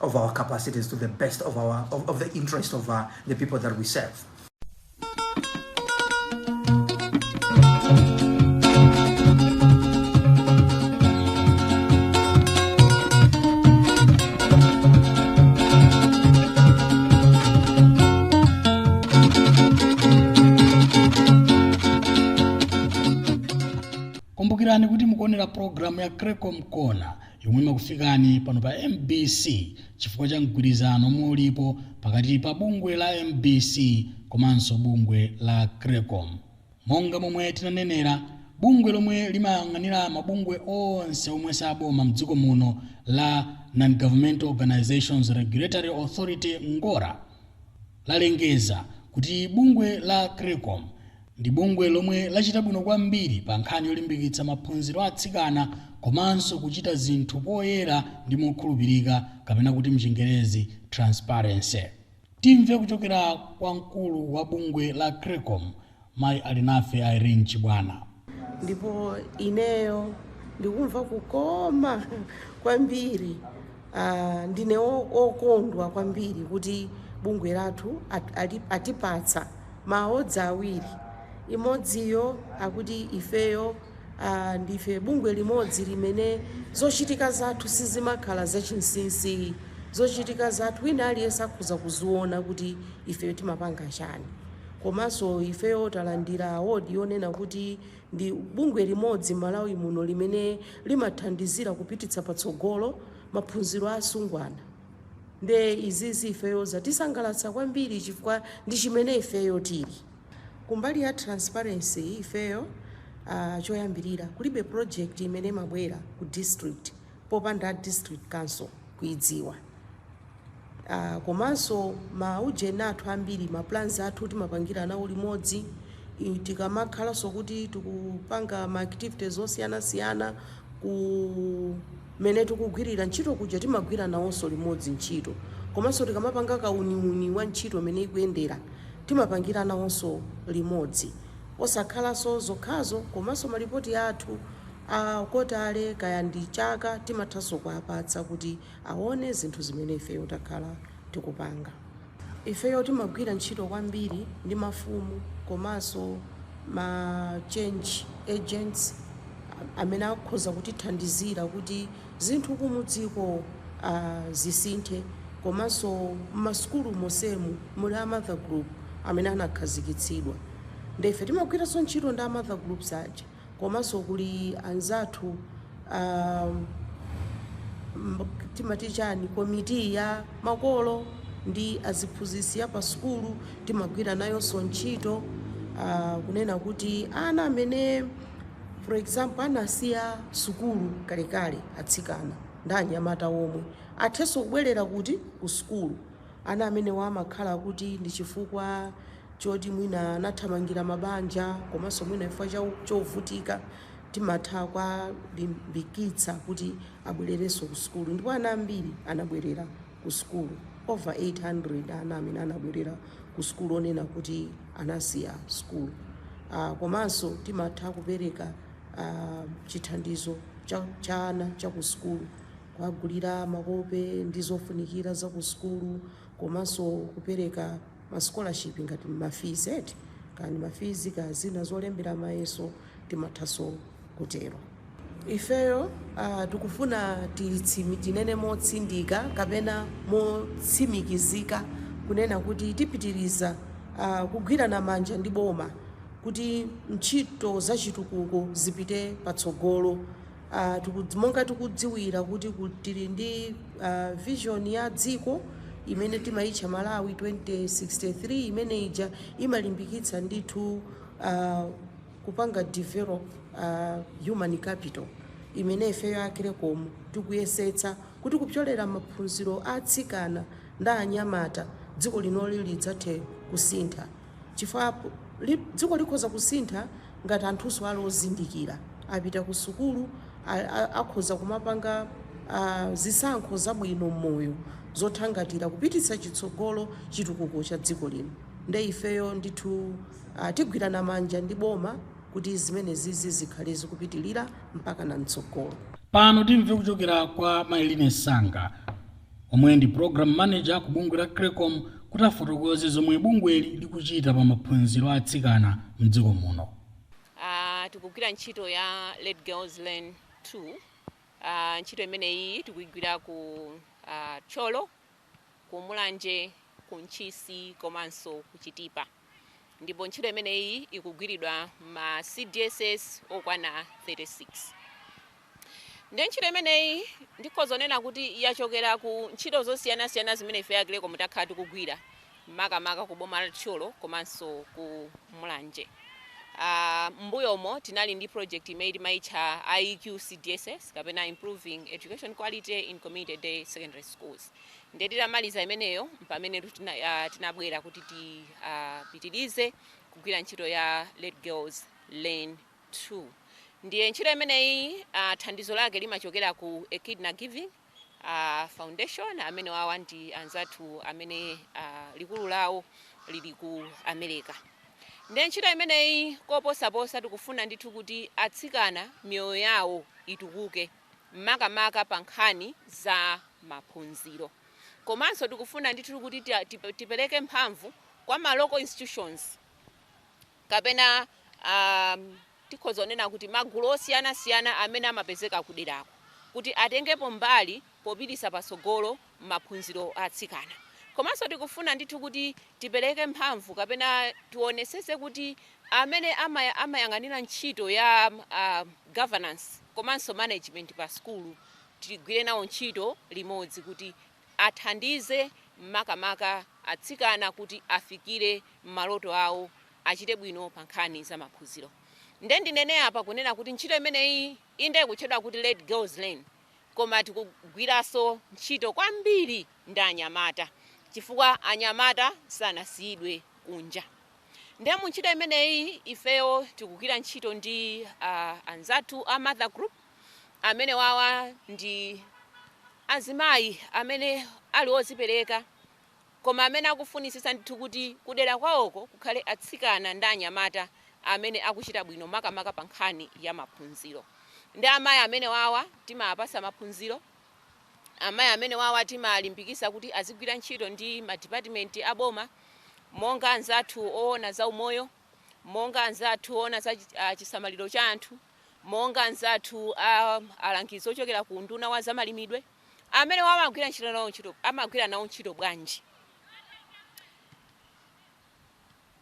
of our capacities to the best of our of, of the interest of uh, the people that we serve. kumbukirani kuti mukuonera pulogalamu ya Creccom Corner yomwe imakufikani pano pa mbc chifukwa cha mgwirizano omwe ulipo pakati pa bungwe la mbc komanso bungwe la Creccom. Monga momwe tinanenera, bungwe lomwe limayang'anira mabungwe onse omwe saboma mdziko muno la Non-Governmental Organisations Regulatory Authority, Ngora, lalengeza kuti bungwe la Creccom ndi bungwe lomwe lachita bwino kwambiri pa nkhani yolimbikitsa maphunziro a atsikana komanso kuchita zinthu poyera ndi mokhulupirika kapena kuti mchingerezi transparency. Timve kuchokera kwa mkulu wa bungwe la Creccom Mayi Alinafe Irene Chibwana. Ndipo ineyo ndikumva kukoma kwambiri aah ndine okondwa kwambiri kuti bungwe lathu atipatsa ma awards awiri imodziyo akuti ifeyo aah ndife bungwe limodzi limene zochitika zathu sizimakhala zachinsisi zochitika zathu wina aliyense akhoza kuziona kuti ifeyo timapanga chani Komanso ifeyo talandira award yonena kuti ndi bungwe limodzi Malawi muno limene limathandizira kupititsa patsogolo maphunziro a asungwana nde izizi ifeyo zatisangalatsa kwambiri chifukwa ndi chimene ifeyo tili. Kumbali ya transparency ifeyo aah choyambirira kulibe project imene imabwera ku district popanda district council kuidziwa. Aaa komanso ma ujeni athu ambiri ma plans athu timapangira nawo limodzi i- tikamakhalanso kuti tikupanga ma activities osiyanasiyana kumene tikugwirira ntchito kuja timagwira nawonso limodzi ntchito komanso tikamapanga kauniuni wa ntchito mene ikuyendera timapangira nawonso limodzi osakhalanso zokhazo komanso malipoti athu A kotale kaya ndi chaka timathanso kuwapatsa kuti awone zinthu zimene ifeyo takhala tikupanga. Ifeyo timagwira ntchito kwambiri ndi mafumu komanso ma change agents amene akhoza kutithandizira kuti zinthu kumudziko zisinthe komanso mmasukulu monsemu muli a mother group amene anakhazikitsidwa nde ife timagwiranso ntchito ndi a mother groups aja. komanso kuli anzathu timati chani komiti ya makolo ndi aziphunzitsi ya pa sukulu timagwira nayonso ntchito uh, kunena kuti ana amene for example anasiya sukulu kalekale atsikana ndi anyamata omwe athenso kubwerera kuti ku sukulu Ana amenewa amakhala kuti ndi chifukwa choti mwina anathamangira mabanja komanso mwina chifukwa cha chovutika timatha kuwalimbikitsa kuti abwererenso ku sukulu ndipo ana ambiri anabwerera ku sukulu over 800 ana amene anabwerera ku sukulu onena kuti anasiya sukulu uh, komanso timatha kupereka uh, chithandizo cha, cha ana cha ku sukulu kuwagulira makope ndi zofunikira za ku sukulu komanso kupereka ma scholarship ngati ma fees eti, kaya ndi ma fees kaya zina zolembera mayeso timathanso kutero. Ifeyo uh, tikufuna titsimi, tinene motsindika kapena motsimikizika kunena kuti tipitiriza uh, kugwirana manja ndi boma kuti ntchito za chitukuko zipite patsogolo. Uh, monga tikudziwira kuti tili ndi uh, vision ya dziko imene timaitcha Malawi 2063 imene ija imalimbikitsa ndithu uh, kupanga develop uh, human capital imene ifeyo a Creccom tikuyesetsa kuti kupyolera maphunziro a atsikana ndi anyamata dziko linoli lidzathe kusintha. chifukwa li, dziko likhoza kusintha ngati anthunso ali ozindikira, apita ku sukulu, a, a, akhoza kumapanga a, zisankho zabwino m'moyo zothangatira kupititsa chitsogolo chitukuko cha dziko lino. Nde ifeyo ndithu a, tigwirana manja ndi boma kuti zimenezizi zikhale zikupitilira mpakana mtsogolo. Pano timve kuchokera kwa Mayi Line Sanga. omwe ndi Program Manager ku bungwe la Creccom kuti afotokoze zomwe bungweli likuchita pa maphunziro a atsikana mdziko muno. Aaa tikugwira ntchito ya Let Girls Learn 2, aaa ntchito imeneyiyi tikuigwira ku aaa Thyolo, ku Mulanje, ku Ntchisi komanso ku Chitipa. ndipo ntchito imeneyi ikugwiridwa ma CDSS okwana 36 ndi ntchito imeneyi ndikhoza kunena kuti yachokera ku ntchito zosiyanasiyana zimene ife a Creccom takhala tikugwira makamaka ku boma la Thyolo komanso ku Mulanje. Uh, mbuyomo tinali ndi project imene timaitcha IEQ CDSS kapena Improving Education Quality in Community Day Secondary Schools. Ndiye titamaliza imeneyo mpamenetu tina, uh, tinabwera kuti tipitirize uh, kugwira ntchito ya Let Girls Learn 2 ndiye ntchito imeneyi uh, thandizo lake limachokera ku Echidna Giving uh, Foundation amene wawa ndi anzathu amene uh, likulu lawo lili ku America ndiye ntchito imeneyi koposaposa tikufuna ndithu kuti atsikana miyoyo yawo itukuke makamaka pa nkhani za maphunziro. Komanso tikufuna ndithu kuti tipereke mphamvu kwa ma local institutions kapena tikhoza kunena kuti magulu osiyanasiyana amene amapezeka kuderako kuti atengepo mbali popititsa patsogolo maphunziro a atsikana. Komanso tikufuna ndithu kuti tipereke mphamvu kapena tionetsetse kuti amene amayang'anira ntchito ya governance komanso management pa sukulu tigwire nawo ntchito limodzi kuti athandize makamaka atsikana kuti afikire maloto awo, achite bwino pa nkhani za maphunziro. Ndiye ndinene apa kunena kuti ntchito imeneyi inde ikutchedwa kuti Let Girls Learn. koma tikugwiranso ntchito kwambiri ndi anyamata chifukwa anyamata sanasiyidwe kunja. Ndiye mu ntchito imeneyi ifeyo tikugwira ntchito ndi uh, anzathu a Mother Group amene wawa ndi azimayi amene ali ozipereka koma amene akufunitsitsa ndithu kuti kudera kwawoko kukhale atsikana ndi anyamata amene akuchita bwino makamaka pa nkhani ya maphunziro. Nde amayi amenewawa timawapatsa maphunziro, amayi amenewawa timawalimbikitsa kuti azigwira ntchito ndi madipatimenti a boma monga anzathu oona za umoyo, monga anzathu oona za chisamaliro cha anthu, monga anzathu a alangizi ochokera ku unduna wa zamalimidwe. amene wawa amagwira ntchito nawo ntchito amagwira nawo ntchito bwanji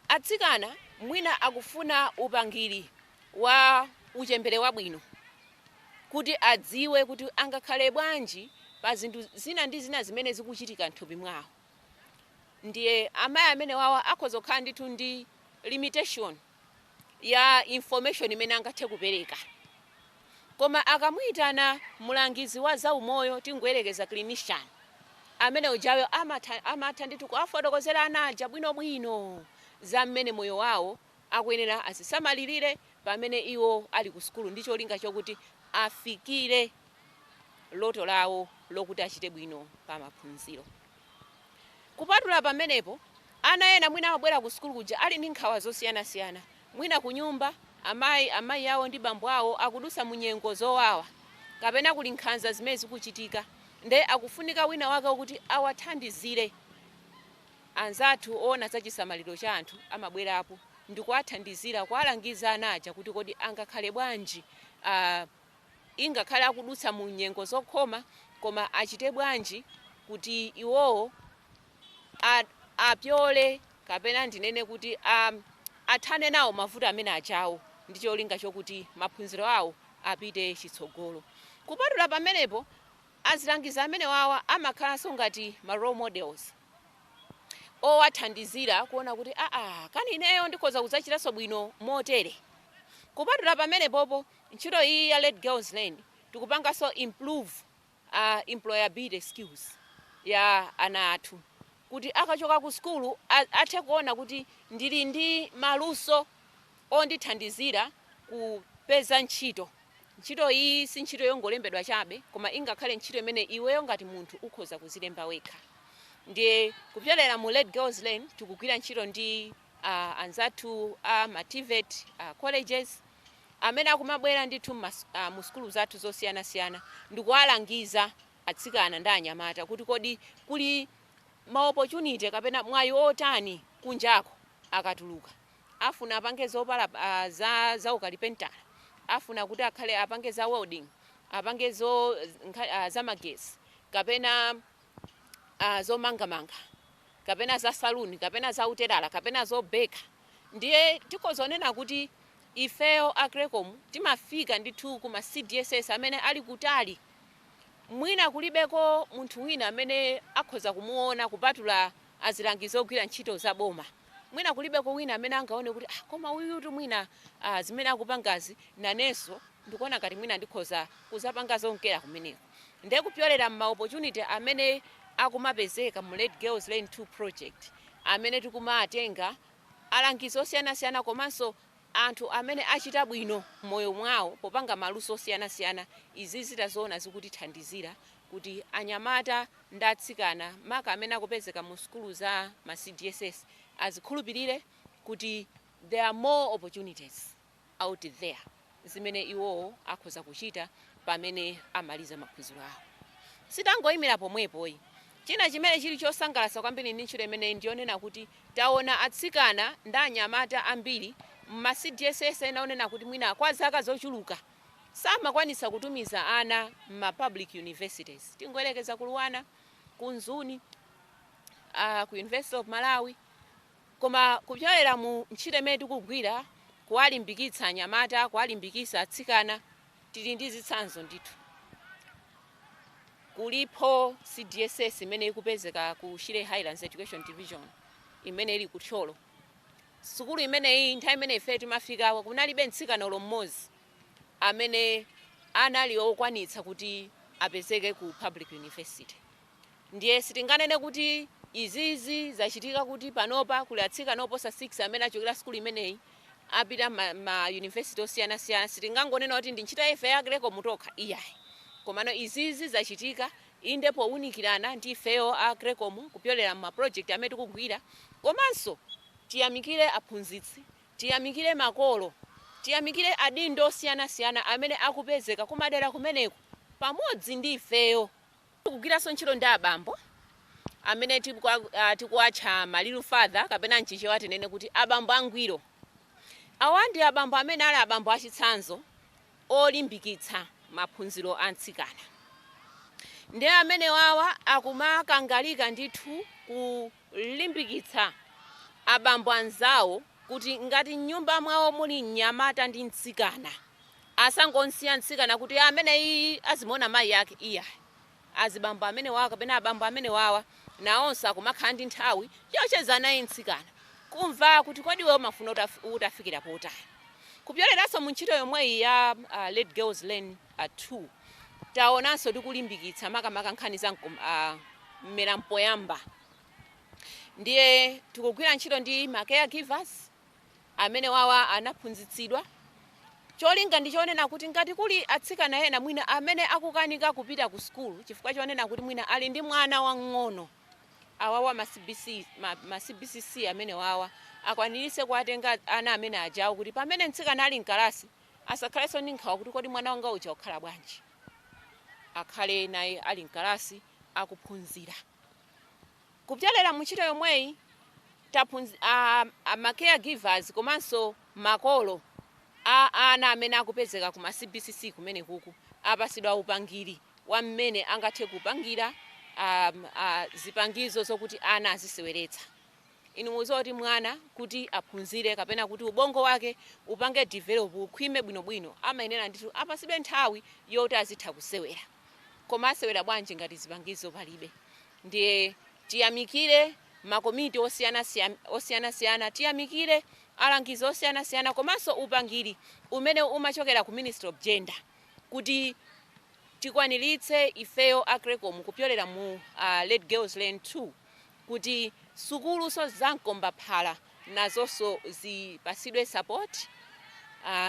atsikana mwina akufuna upangiri wa uchembere wabwino kuti adziwe kuti angakhale bwanji pa zinthu zina ndi zina zimene zikuchitika mthupi mwawo ndiye amayi amene wawa akhoza kukhala ndithu ndi limitation ya information imene angathe kupereka koma akamuitana mulangizi wa zaumoyo tingoyerekeza clinician amene ujayo amatha, amatha ndithu kuwafotokozera ana aja bwinobwino za mmene moyo wawo akuyenera azisamalirire pamene iwo ali ku sukulu ndi cholinga chokuti afikire loto lawo lokuti achite bwino pa maphunziro. Kupatula pamenepo, ana ena mwina amabwera kusukulu kuja ali ndi nkhawa zosiyanasiyana. Mwina kunyumba, amayi, amayi awo ndi bambo awo akudutsa mu nyengo zowawa. Kapena kuli nkhanza zimene zikuchitika nde akufunika wina wake wokuti awathandizire. Anzathu oona za chisamaliro cha anthu amabwerapo ndikuwathandizira kuwalangiza ana aja kuti kodi angakhale bwanji. ingakhale akudutsa mu nyengo zokhoma, koma achite bwanji kuti iwowo a, apyole kapena ndinene kuti a, athane nawo mavuto amene ajawo ndi cholinga chokuti maphunziro awo apite chitsogolo. Kupatula pamenepo, azilangizi amenewawa amakhalanso ngati ma role models owathandizira kuona kuti aa, kani ineyo ndikhoza kudzachitanso bwino motere. Kupatula pamenepopo. Ntchito iyi ya Let Girls Learn tikupanganso improve employability skills ya ana athu kuti akachoka ku sukulu athe kuona kuti ndili ndi maluso ondithandizira kupeza ntchito. Ntchito iyi si ntchito yongolembedwa chabe koma ingakhale ntchito imene iweyo ngati munthu ukhoza kuzilemba wekha. Ndiye kupyolera mu Let Girls Learn tikugwira ntchito ndi. a anzathu a ma TVET a colleges amene akumabwera ndithu mma a mu sukulu zathu zosiyanasiyana ndikuwalangiza atsikana ndi anyamata kuti kodi kuli ma opportunity kapena mwayi otani kunjako akatuluka afuna apange zopala a za za ukalipentala afuna kuti akhale apange za welding apange zo nkha a za magetsi kapena a zomangamanga kapena za saluni kapena za utelala kapena zobeka ndiye tikhoza kunena kuti ifeyo a Creccom timafika ndithu ku ma CDSS amene ali kutali mwina kulibeko munthu wina amene akhoza kumuona kupatula azilangizi ogwira ntchito za boma. Mwina kulibeko wina amene angaone kuti ah, koma uyutu mwina ah, zimene akupangazi nanenso ndikuona ngati mwina ndikhoza kuzapanga zonkera kumeneko. Nde kupyolera mma opportunity amene akumapezeka mu Let Girls Learn 2 project amene tikumatenga alangizi osiyanasiyana komanso anthu amene achita bwino mmoyo mwawo popanga maluso osiyanasiyana, izizi taziona zikutithandizira kuti anyamata ndi atsikana maka amene akupezeka mu sukulu za ma cdss azikhulupirire kuti there are more opportunities. out there zimene iwowo akhoza kuchita pamene amaliza maphunziro awo. Sitangoimira pomwepo ayi. China chimene chili chosangalatsa kwambiri ndi ntchito imeneyi ndi yonena kuti taona atsikana ndi anyamata ambiri m'ma CDSS ena onena kuti mwina kwa zaka zochuluka samakwanitsa kutumiza ana m'ma public universities. Tingoyerekeza ku Luanar, ku Mzuni, ah, ku University of Malawi, Koma kupyolera mu ntchito imene tikugwira, kuwalimbikitsa anyamata, kuwalimbikisa atsikana, tili ndi zitsanzo ndithu. Kulipo CDSS imene ikupezeka ku Shire Highlands Education Division imene ili ku Thyolo. Sukulu imeneyi nthawi imene ifeyo timafikako kunalibe mtsikana olo mmodzi amene anali okwanitsa kuti apezeke ku Public University. Ndiye sitinganene kuti izizi zachitika kuti panopa kuli atsikana oposa 6 amene achokera sukulu imeneyi apita mma ma university osiyanasiyana, sitingangonena kuti ndi ntchito ya ife a Creccom tokha iyayi komano izizi zachitika inde powunikirana ndi ifeyo a Creccom kupyolera mma project amene tikugwira komanso tiyamikire aphunzitsi, tiyamikire makolo, tiyamikire adindo osiyanasiyana amene akupezeka kumadera kumeneko pamodzi ndi ifeyo. Tikugwiranso ntchito ndi abambo amene tikuwatcha ma Real Father kapena m'Chichewa tinene kuti abambo angwiro. Awa ndi abambo amene ali abambo achitsanzo olimbikitsa maphunziro a mtsikana. Ndiye amenewawa akumakangalika ndithu ku. limbikitsa abambo anzawo kuti ngati m'nyumba mwawo muli mnyamata ndi mtsikana, asangomsiya mtsikana kuti ameneyiyi azimuwona mayi ake iyayi. Azibambo amenewawa kapena abambo amenewawa nawonso akumakhala ndi nthawi yocheza naye mtsikana, kumva kuti kodi iweyo umafuna utafikira potani. Kupyoleranso mu ntchito yomweyi ya Let Girls Learn, 2. Taonanso tikulimbikitsa makamaka nkhani za mmera mpoyamba ndiye tikugwira ntchito ndi ma caregivers amene wawa anaphunzitsidwa cholinga ndi chonena kuti ngati kuli atsikana ena mwina amene akukanika kupita ku sukulu chifukwa chonena kuti mwina ali ndi mwana wang'ono awawa ma CBC ma, ma CBCC amene wawa akwaniritse kuwatenga ana amene ajawo kuti pamene mtsikana ali mkalasi asakhalenso ndi nkhawa kuti kodi mwana wanga uja akhala bwanji, akhale naye ali m'kalasi akuphunzira. Kupyolera mu ntchito yomweyi taphunzi, a, a ma caregivers komanso makolo a ana amene akupezeka ku ma CBCC kumenekuku apasidwa upangiri wa mmene angathe kupangira a, a, zipangizo zokuti ana aziseweretsa. Inu mudziwa zoti mwana kuti aphunzire kapena kuti ubongo wake upange develop, ukhwime bwinobwino, amayenera ndithu apatsidwe nthawi yoti azitha kusewera. Koma asewera bwanji ngati zipangizo palibe? Ndiye tiyamikire makomiti osiyanasiyana, tiyamikire alangizi osiyanasiyana komanso upangiri umene umachokera ku Ministry of Gender kuti tikwaniritse ifeyo a Creccom kupyolera mu Let Girls Learn 2. kuti sukulunso za mkombaphala nazonso zipatsidwe support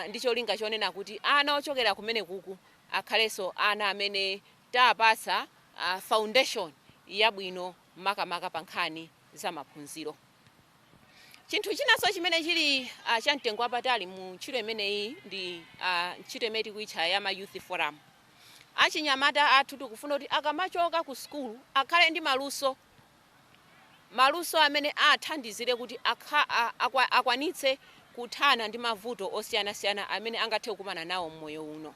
ndi cholinga chonena kuti ana ochokera kumenekuku akhalenso ana amene taapatsa foundation yabwino makamaka pa nkhani za maphunziro. Chinthu chinanso chimene chili cha mtengo wapatali mu ntchito imeneyi ndi ntchito imene tikuitcha ya ma youth forum. Achinyamata athu tikufuna kuti akamachoka ku sukulu akhale ndi maluso, maluso amene athandizire kuti akwanitse kuthana ndi mavuto osiyanasiyana amene angathe kukumana nawo m'moyo uno.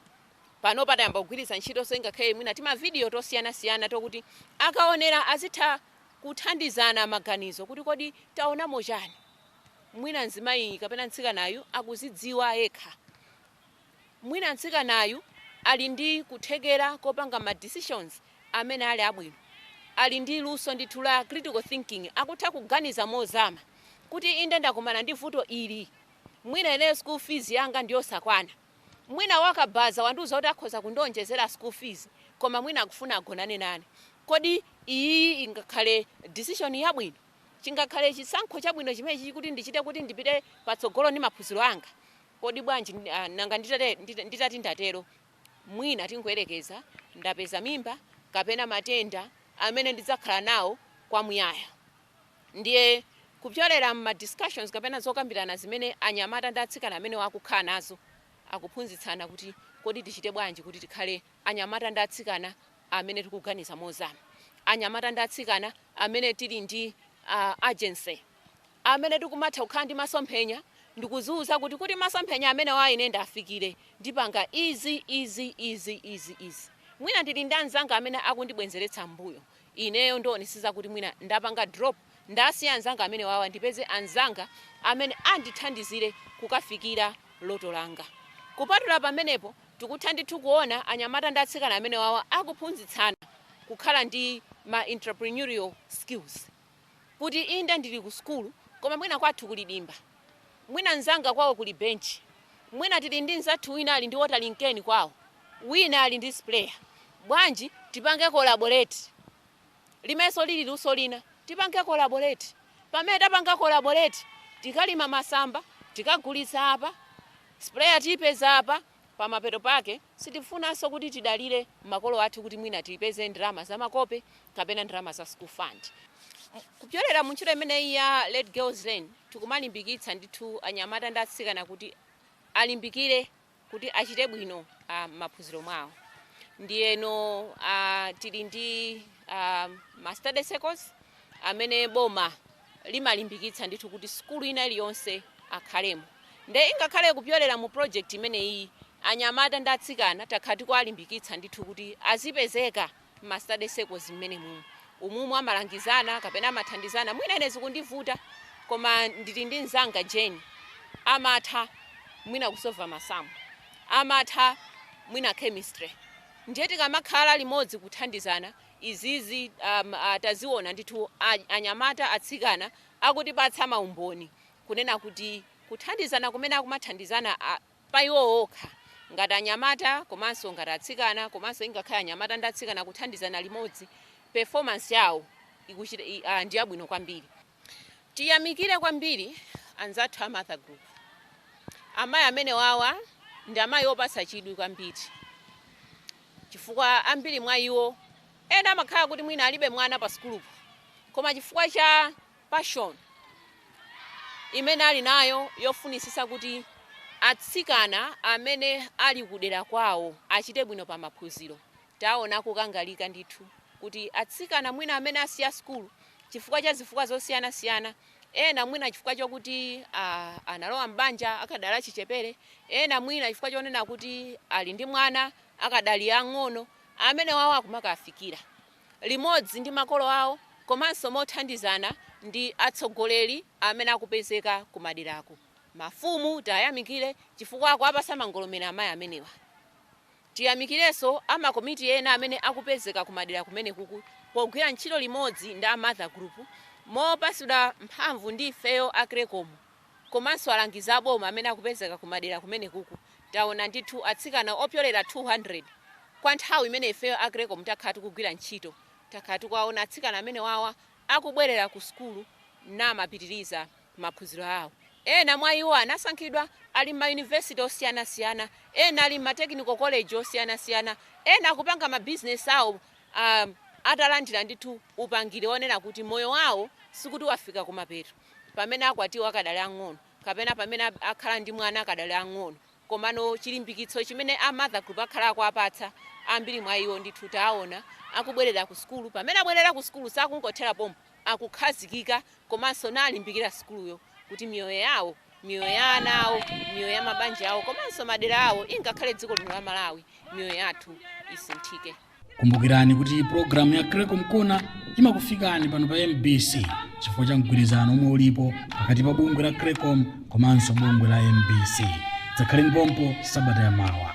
Panopa tayamba kugwiritsa ntchitonso ingakhale mwina timavidiyo tosiyanasiyana tokuti akaonera azitha kuthandizana maganizo kuti kodi taonamo chani? Mwina mzimayi kapena mtsikanayu akuzidziwa yekha. mwina mtsikanayu ali ndi kuthekera kopanga ma decisions amene ali abwino, ali ndi luso ndithu la critical thinking, akutha kuganiza mozama kuti inde ndakumana ndi vuto ili, mwina ine school fees yanga ndiyosakwana, mwina wakabaza wandiuza kuti akhoza kundionjezera school fees koma mwina akufuna agonane nane, kodi iyiyi ingakhale decision yabwino, chingakhale chisankho chabwino chimenechi kuti ndichite kuti ndipite patsogolo ndi maphunziro anga? Kodi bwanji nanga nditati ndatero mwina tingoyerekeza ndapeza mimba kapena matenda amene ndidzakhala nawo kwa muyaya ndiye kupyolera mma discussions kapena zokambirana zimene anyamata ndi atsikana amenewa akukhala nazo akuphunzitsana kuti kodi tichite bwanji kuti tikhale anyamata ndi atsikana amene tikuganiza mozama, anyamata ndi atsikana amene tili ndi agency. amene tikumatha kukhala ndi masomphenya ndikuziuza kuti kuti masomphenya amenewa ine ndiafikire ndipanga izi izi izi izi izi mwina ndili ndi anzanga amene akundibwenzeretsa m'mbuyo ineyo ndionetsetsa kuti mwina ndapanga drop ndasiya anzanga amenewawa ndipeze anzanga amene andithandizire kukafikira loto langa kupatula pamenepo tikutha ndithu kuona anyamata ndi atsikana amenewawa akuphunzitsana kukhala ndi ma entrepreneurial skills. kuti inde ndili ku sukulu koma mwina kwathu kuli dimba, mwina mnzanga kwawo kuli benchi, mwina tili ndi mnzathu wina ali ndi watering can kwawo, wina ali ndi sprayer. Bwanji tipange collaborate? Limenso lili luso lina. Tipange collaborate. Pamene tapanga collaborate, tikalima masamba tikagulitsa apa, sprayer tiipeza apa. Pamapeto pake, sitifunanso kuti tidalire makolo athu kuti mwina tipeze ndalama za makope kapena ndalama za school fund. Kupyolera mu ntchito imeneyi ya Let Girls Learn, tikumalimbikitsa ndithu anyamata ndi atsikana kuti alimbikire kuti achite bwino m'maphunziro mwawo. Ndiyeno tili ndi ma study circles amene boma limalimbikitsa ndithu kuti sukulu ina iliyonse akhalemo nde ingakhale kupyolera mu project imeneyiyi anyamata ndi atsikana takhala tikuwalimbikitsa ndithu kuti azipezeka mma study circles mmenemumu umumu amalangizana kapena amathandizana mwina ine zikundivuta koma ndili ndi mzanga Jane amatha mwina kusova masamu amatha mwina chemistry ndiye tikamakhala limodzi kuthandizana izizi taziona ndithu anyamata atsikana akutipatsa maumboni kunena kuti kuthandizana kumene akumathandizana pa iwo okha ngati anyamata komanso ngati atsikana komanso ingakhale anyamata ndi atsikana kuthandizana limodzi performance yawo ndi yabwino kwambiri. Tiyamikire kwambiri anzathu a Mother Group. Amayi amenewawa ndi amayi opatsa chidwi kwambiri chifukwa ambiri mwa iwo ena amakhala kuti mwina alibe mwana pa sukulupo koma chifukwa cha passion imene ali nayo yofunitsitsa kuti atsikana amene ali kudera kwawo achite bwino pa maphunziro, taona akukangalika ndithu kuti atsikana mwina amene asiya sukulu chifukwa cha zifukwa zosiyanasiyana, ena mwina chifukwa chokuti analowa m'banja akadali achichepere, ena mwina chifukwa chonena kuti ali ndi mwana akadali ang'ono, amenewawo akumakafikira limodzi ndi makolo awo komanso mothandizana ndi atsogoleri amene akupezeka kumaderako. Mafumu tiwayamikire chifukwa akuwapatsa mangolomera amayi amenewa. Tiyamikirenso a makomiti ena amene akupezeka kumadera kumenekuku pogwira ntchito limodzi ndi a Mother Group mopatsidwa mphamvu ndi ifeyo a CRECCOM komanso alangizi a boma amene akupezeka kumadera kumenekuku. Taona ndithu atsikana opyolera 200 kwa nthawi imene ifeyo a CRECCOM takhala tikugwira ntchito, takhala tikuwaona atsikana amenewawa akubwerera kusukulu namapitiriza. maphunziro awo. Ena mwa iwo anasankhidwa ali m'mayunivesity osiyanasiyana, ena ali m'ma technical college osiyanasiyana, ena akupanga mabizinesi awo atalandira ndithu upangiri wonena kuti moyo wawo sikuti wafika kumapeto pamene akwatiwa akadali ang'ono kapena pamene akhala ndi mwana akadali ang'ono. Komano chilimbikitso chimene a Mother Group akhala akuwapatsa, ambiri mwa iwo ndithu tawaona akubwerera kusukulu, pamene abwerera kusukulu sakungothera pompo. akukhazikika komanso nalimbikira sukuluyo kuti miyoyo yawo, miyoyo ya ana awo, miyoyo ya mabanja awo komanso madera awo ingakhale dziko lino la Malawi, miyoyo yathu isinthike. Kumbukirani kuti pulogalamu ya Creccom Corner imakufikani pano pa MBC chifukwa cha mgwirizano omwe ulipo pakati pa bungwe la Creccom komanso bungwe la MBC. Dzakhaleni pompo sabata ya mawa.